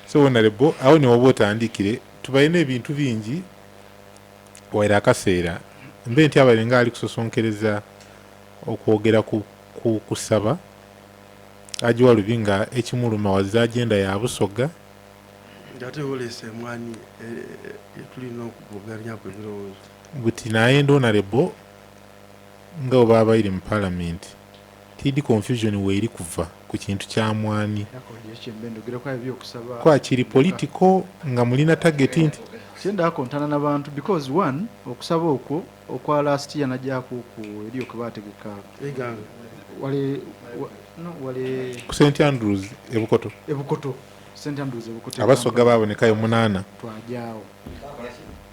So honorable awo newoba otandikire tubalina ebintu bingi waire akaseera mbe ntya abaire nga ali kusosonkereza okwogera ku ku kusaba Haji Walubi nga ekimuluma was agenda ya Busoga. Nga ate oleese emwanyi etulina e, e, okugoganyaku ebirowoozo. Buti naye ndi honorable nga bwe baba baire mu parliament. Kid confusion weri kuva ku kintu kya mwani kwa kiri political nga mulina target nti. Kyenda akontana na bantu because one okusaba okwo okwa last year najako ku eriyo kebategeka wali no wali ku St Andrews ebukoto ebukoto St Andrews ebukoto abasoga baboneka yo munana twajawo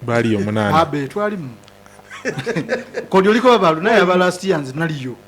bali yo munana abe twalimu kodi oliko babalu naye aba last year nzi naliyo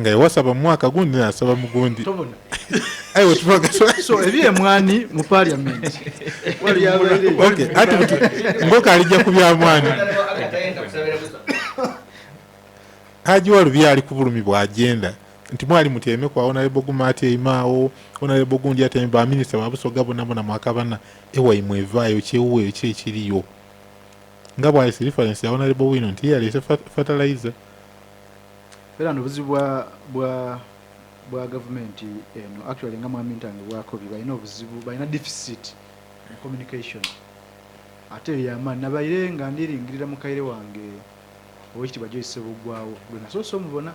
nga yawasaba mu mwaka gundi nasaba mugundi ebyemwani mu parliament ngoka alija ku byamwani haji walubi ali ku bulumi bwagenda nti mwali mutyeme kwa onalebo guma atyemaawo onalebo gundi atyeme baminisita babusoga bonabona mwakabana ewaimwe evaayo kyewuweyo ki ekiriyo nga bwalese reference ya onalebo wino nti yalese fertilizer Era no buzibu bwa bwa bwa gavumenti eno actually nga mwami ntange bwakobi balina obuzibu balina deficit mu communication ate eyo yamaani nabaire nga ndiringirira mukaire wange owekitibwa Joyce Sebuggwawo gwe nasoose omubona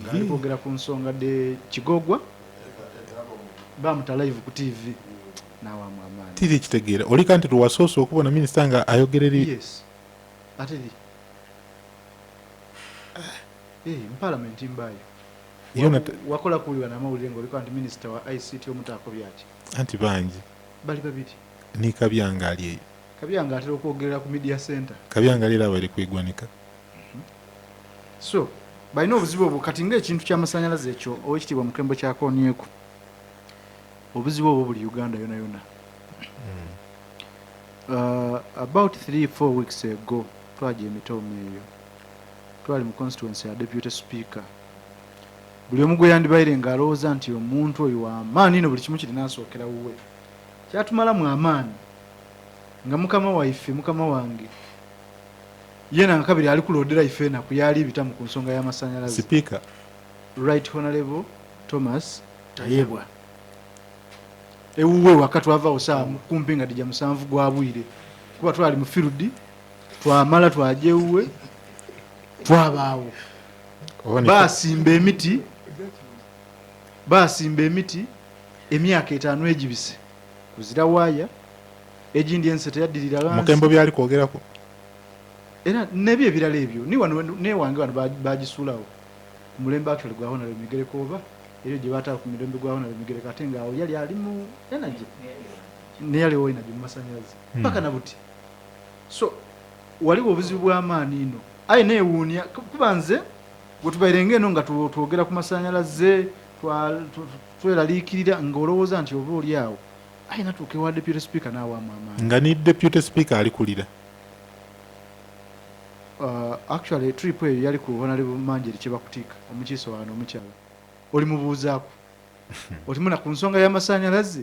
nga ali kwogera ku nsonga de kigogwa bamuta live ku tv nawamu amaani tiri kitegeera oli kanti lwewasoose okubona minisita nga ayogera eri yes ate wakola kuwulira namawulire nga oliko nti minisita wa ict omutaako byaki anti bangi bali babiri ni kabyanga ali eyo kabyanga atera okwogerera ku media center kabyanga ali era abaire kwegwanika mhm. so balina obuzibu obwo kati ngaekintu kyamasanyalaze ekyo owekitiibwa mukembo kyakonyeku obuzibu obwo buli uganda yona yona mm. uh, about 3 4 weeks ago Twagya emitooma eyo twali mu constituency ya deputy speaker. Buli omu gwe yandibaire nga alowooza nti omuntu oyo wamaani no buli kimu kirina asookera wuwe. Kyatumalamu amaani nga mukama waife mukama wange yena nga kabiri ali kulodera ife enaku yaali bitamu ku nsonga y'amasanyalaze. Sipiika. Right Honorable Thomas Tayebwa. Ewuwe waka twava osaa kumpi nga dija musanvu gwa bwire kuba twali mu field twamala twaja ewuwe twabaawo basimba emiti basimba emiti emyaka etaano egibise kuzira waaya egindi ensi teyaddirira mukembo byali kwogerako era nebyo ebirala ebyo newange wano bagisuulawo mulembe actually gwa honore migereko oba ebyo gye baatala ku mirembe gwa honore migereko ate ngaawo yali ali mu energy neyaliwo energy mu masanyalaze hmm. paka nabuti So waliwo obuzibu bw'amaani ino aye neewuunia kuba nze wetubaire ng'eno nga twogera ku masannyalaze tweraliikirira ng'olowooza nti oba oli awo aye natuuka ewa deputy speaker n'awaamu amaani nga ni deputy speaker alikulira uh, actually trip eyo yali ku honorable manjeri kyebakutika omukiise wano omukyala olimubuuzaako olimuna ku nsonga y'amasannyalaze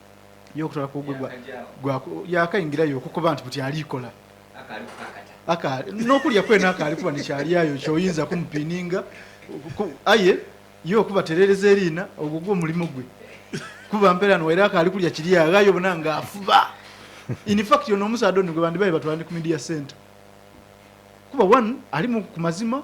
ye okutwala ku gwe yakayingirayo okukuba nti buti aliikola n'okulya kwena akaali kuba nekyalyayo kyoyinza kumupininga aye ye okuba terereza eriina ogwo gwo omulimu gwe kuba mpeera no era akaali kulya kiri aghayo bona nga afuba infact ono omusaadha ono gwe bandibaye batwala ne ku media center kuba one alimu ku mazima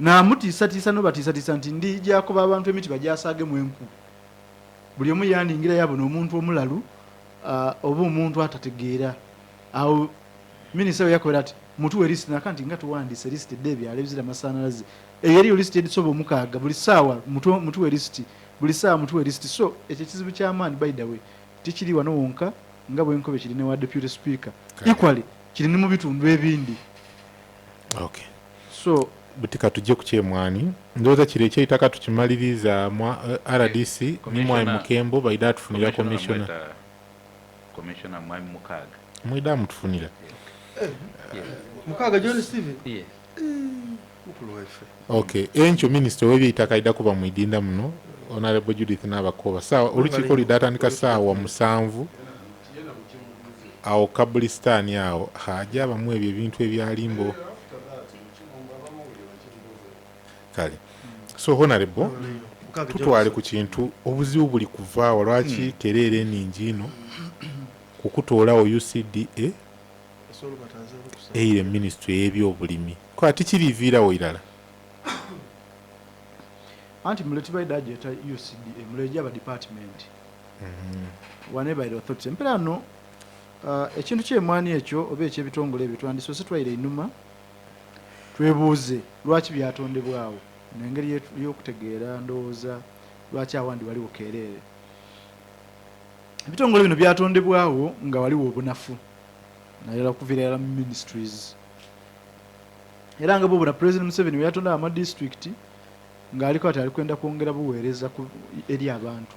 Namutiisatiisa n'obatiisatiisa nti, Ndijakuba abantu emiti bagyasaagemu enku. Buli omu yandingira yabuna omuntu omulalu oba omuntu atategeera. Awo Minisita bwe yakobera nti, Mutuwe lisiti, naka nti, Nga tuwandiise lisiti edda ebyalo ebizira masaanalaze? Eyo eriyo lisiti edisoba omukaaga buli ssaawa. Mutuwe lisiti. Buli ssaawa mutuwe lisiti. So, ekyo ekizibu ky'amaanyi, by the way, tikiri wano wonka nga bwe nkobye kiri ne wa Deputy Speaker. Equally, kiri ne mu bitundu ebindi. okay. so buti katujje ku kyemwani ndowooza kiro ekyeitaka tukimaliriza mwa uh, eh, rdc ni mwai mukembo baida atufunira commissiona commissiona mwai mukaaga mwida amutufunira eh, mukaaga john steven yes. okay enkyo minisita owebyeitaka aida kuba mwidinda muno honorable judith nabakoba saawa olukiiko lida atandika saawa musanvu Awo kabulistaani awo haji abamu ebyo ebintu ebyali mbo kale so honorable tutwale ku kintu obuzibu buli kuvaawa lwaki hmm. tereera eningi ino kukutoolawo ucda eire minisitule eyebyobulimi ko ati kiriviirawo irala anti muleti baidajeta ucda muleja ba department empera no uh, ekintu kyemwani ekyo oba ekyebitongole ebyo twandisose twaire inuma twebuuze lwaki byatondebwawo nengeri yokutegeera ndowooza lwaki awandi waliwo keereere ebitongole bino byatondebwawo nga waliwo obunafu nayala kuvira yala ministries era nga bobona president museveni weyatondawo amadistrict ngaaliko ati ali kwenda kwongera buweereza eri abantu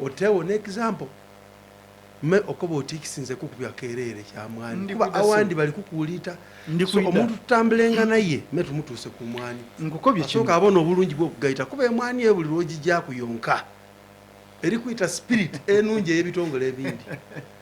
Otewo ne example me okoba otikisi nze kukubya kerere kya mwani kuba awandi bali kukuulita so omuntu tutambulenga naye me tumutuuse ku mwani nkukobye kino soka abona obulungi bwo kugayita kuba emwani ye buli lwoji gya kuyonka eri kuyita spirit enungi eyebitongole ebindi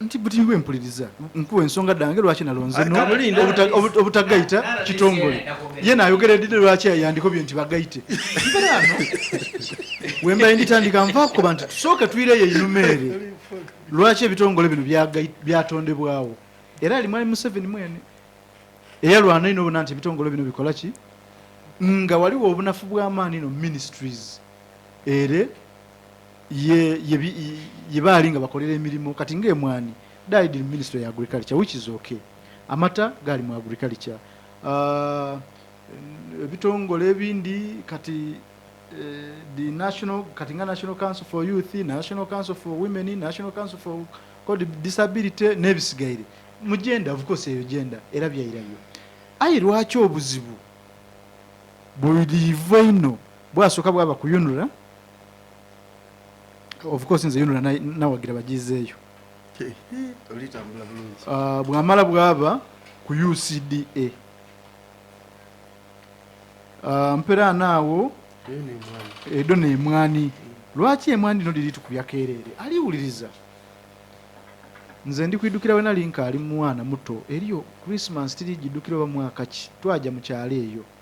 nti buli lwe mpuliriza nkuwa ensonga ddange lwaki nalonze no obutagayita kitongole ye naayogera eddide lwaki yandikobye nti bagayite mbeerano wembaye nditandika nvakuba nti tusooke tuyireyo einumeere lwaki ebitongole bino byatondebwawo era ali mwami museveni mwene eyalwana ino obona nti ebitongole bino bikola ki nga waliwo obunafu bw'amaani no ministries ere ye ye ye baali nga bakolera emirimu kati nga emwani died in ministry ya agriculture which is okay amata gaali mu agriculture uh, ebitongole ebindi kati eh, the national kati nga national council for youth national council for women national council for called disability n'ebisigaire mu genda of course eyo genda era byairayo ayi lwaki obuzibu buliiva ino bwasooka bwaba kuyunula of course nze yunula nawagira bagizeeyo ah, bwamala bwaba ku ucda ah, mpera naawo edo nemwani lwaki emwani no liri tukubya kereere aliwuliriza nze ndi kwidukira wena linka ali mwana muto eriyo christmas tiri gidukira oba mwaka ki twaja mukyalo eyo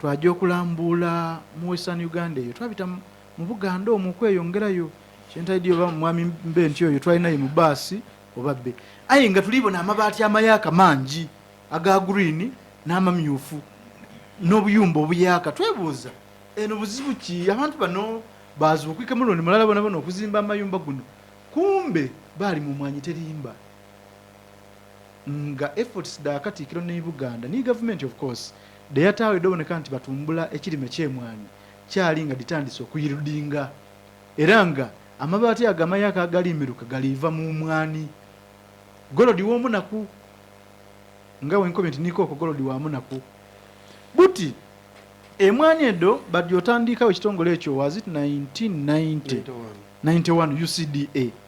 Twaja okulambuula mu Western Uganda eyo twabita mu Buganda omwo okweyongerayo kyentaidi oba mwami mbe nti oyo twali naye mu baasi oba bbe aye nga tuli bona amabaati amayaaka mangi aga green n'amamyufu n'obuyumba obuyaaka twebuuza eno buzibu ki abantu bano bazuukike mulundi mulala bonabona okuzimba amayumba guno kumbe baali mu mwanyi terimba. nga efforts da katikiro nei buganda nei gavumenti of course de yatawo edoboneka nti batumbula ekirime kyemwanyi kyali nga ditandise okuyildinga era nga amabati ago amayaka agali miruka galiva mu mwani golodi womunaku nga wenkomye nti nikoko golodi wa munaku buti emwani edo badi otandikawo ekitongole ekyo was it 1990 91 ucda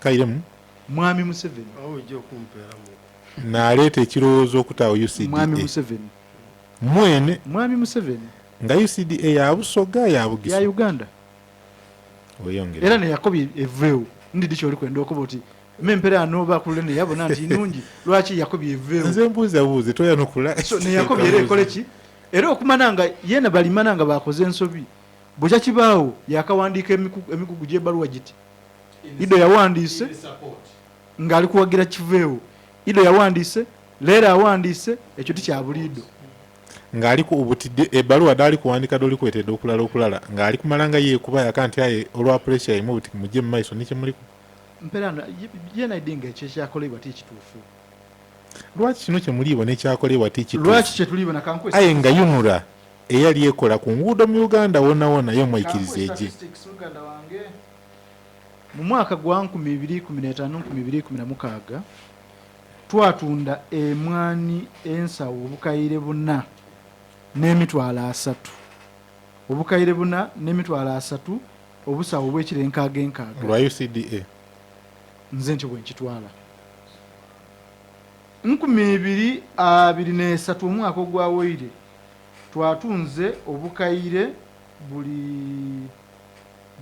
Kairemu. Mwami Museveni. Awo ojja okumpeera mu. Naleeta ekirowoozo okutaawo UCDA. Mwami Museveni. Mwene. Mwami Museveni. Nga UCDA ya Busoga ya Bugisu. Ya Uganda. Oyongera. Era ne Yakobi eveewo. Ndidi kyoli kwenda okuba oti. Me mpera anoba kulule ne yabona nti nungi. Lwaki Yakobi eveewo. Nze mbuuza buuze toya nokula. So ne Yakobi era ekole ki? Era okumana nga yena balimana nga bakoze ensobi. Bukya kibaawo yakawandiika emikugu gy'ebaluwa giti. Ido yawandiise ng'ali kuwagira kiveewo. Ido yawandiise, Leera awandiise, ekyo tikyabuliido. Ng'ali ku obutidde ebbaluwa daali kuwandiika doli kwetedde okulala okulala ng'ali kumala nga yeekuba yaka nti aye olwa puleesiya ye mubuti mujje mu maiso ne kye muli ku. Mperano yena idi nga ekyo ekyakoleibwa ti kituufu. Lwaki kino kye muliibwa n'ekyakoleibwa ti kituufu? Lwaki kye tuliibwa na kankwesa. Aye nga yunura eyali ekola ku nguudo mu Uganda wona wona ye omwaikiriza egye. Mu mwaka gwa nkumi ibiri ikumi n'etaano nkumi ibiri ikumi na mukaaga, twatunda emwaani ensawo obukaire buna n'emitwalo asatu obukaire buna n'emitwalo asatu obusawo obw'ekiro enkaaga enkaaga. Lwa UCDA. Nze ntyo bwe nkitwala. Nkumi ibiri abiri n'esatu omwaka ogwawoire twatunze obukaire buli.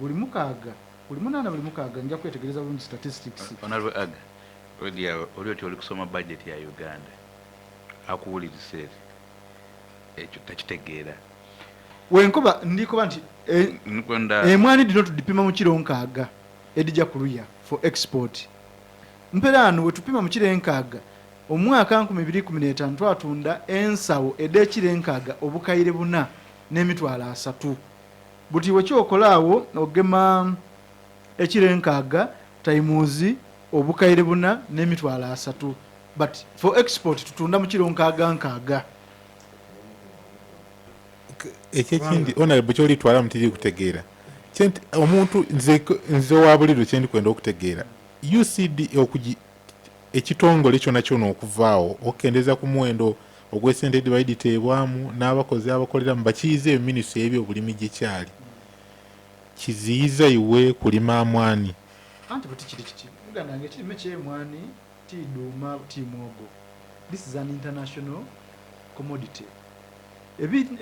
buli mukaaga, buli munaana, buli mukaaga, nja kwetegereza bulungi statistics. Honourable Ag. Odi awo oli oti oli kusoma budget ya Uganda. Akuwulirisa eri. Ekyo takitegeera. Wenkoba ndikoba nti e, Nkwenda. emwani dino tudipima mu kiro nkaaga edija kuluya for export. Mperaano wetupima mu kiro enkaaga omwaka nkumi biri ikumi n'etaano twatunda ensawo ed'ekiro enkaaga obukaire buna n'emitwalo asatu. Buti we kyokola awo ogema ekiro enkaaga times obukaire buna ne mitwalo asatu but for export tutunda mu kiro nkaaga nkaaga. Ekyo ekindi honorable kyoli twala mutiri kutegeera kyenti omuntu nze nze wabuliro kyendi kwenda okutegeera UCD okuji ekitongole kyona kyona okuvaawo okukendeza ku muwendo ogwesente dibaiditeebwamu n'abakozi abakoleramu bakiyize eyo ministry y'ebyobulimi gyekyali kiziyiza iwe kulima mwaani anti buti kiri kiti muganda wange ekirime kyemwani ti duuma ti mwogo this is an international commodity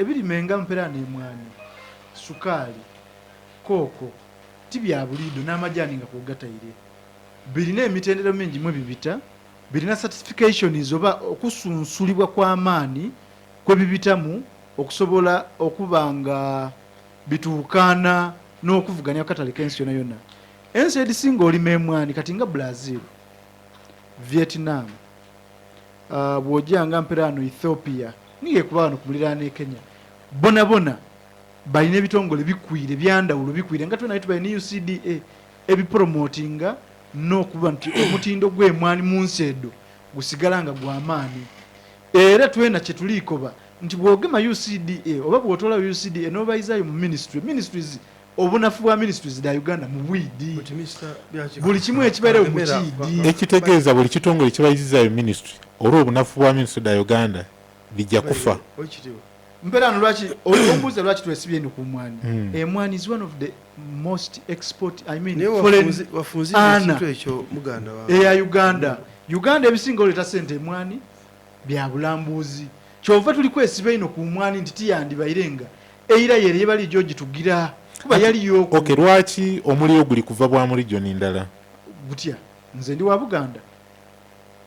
ebirime nga mpera nemwani sukaali kooko ti byabuliido n'amajaani nga kwogatayire birina emitendera mingi mwe bibita, birina certifications oba okusunsulibwa kw'amaani kwe bibitamu okusobola okuba nga bituukaana n'okuvuganya ku katale k'ensi yona yona. Ensi edisinga olima emwaani kati nga Brazil, Vietnam, uh, bw'oja nga mpera ano Ethiopia, niyo ekuba wano ku muliraano e Kenya, bona bona balina ebitongole bikwire byandawulo bikwire nga twe naye tubalina UCDA ebipromotinga n'okuba nti omutindo gw'emwanyi mu nsi edo gusigala nga gwa maanyi era twena kye tuliikoba nti bw'ogema UCDA oba bw'otoola UCDA n'obayizaayo mu minisitule ministries obunafu bwa ministries da Uganda mu bwidi buli kimu ekibeerewo mu kiidi. Ekitegeeza buli kitongole kibayizizaayo ministry olw'obunafu bwa ministry da Uganda bijja kufa mpera no lwaki ombuuza lwaki twesibye eno ku mwani hmm. emwani eh, is one of the most export i mean foreign ana eya eh, uganda uganda ebisinga oleeta sente emwani bya bulambuuzi kyova tuli kwesiba ino ku mwani nti tiyandibairenga eira yere yebali gyogitugira kuba yaliyo okay lwaki omuliro guli kuva bwa mulijo nindala gutya nze ndi wa buganda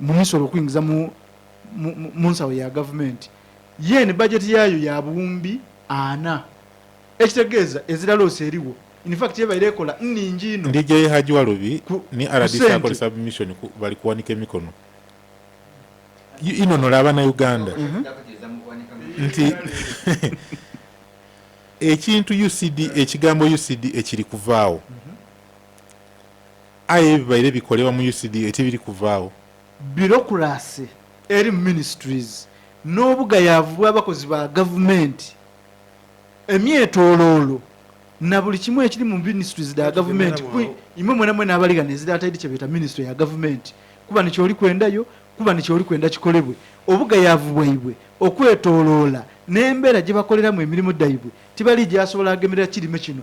mu misolo okuyingiza mu mu nsawo ya gavumenti ye eno bajeti yaayo ya buwumbi ana ekitegeeza eziraloosi eriwo infact ebaire ekola nningi ino ndija ye haji walubi ni rdc akole submission bali kuwanika emikono ino nola abana uganda mhm. nti ekintu ucd ekigambo ucd ekiri kuvaawo mhm. Aye ebibaire bikolebwa mu UCDA tebiri kuvaawo. Bureaucracy eri mu ministries n'obugayaavu bw'abakozi ba gavumenti, emyetooloolo na buli kimu ekiri mu ministries da gavumenti ku imwe mwena mwena abali ghano ezira ataidi kye beeta ministry ya gavumenti kuba ni kyoli kwenda yo kuba ni kyoli kwenda kikolebwe. Obugayaavu bwaibwe okwetooloola n'embeera gye bakoleramu emirimu dhaibwe tibali gyasobola ghemerera kirime kino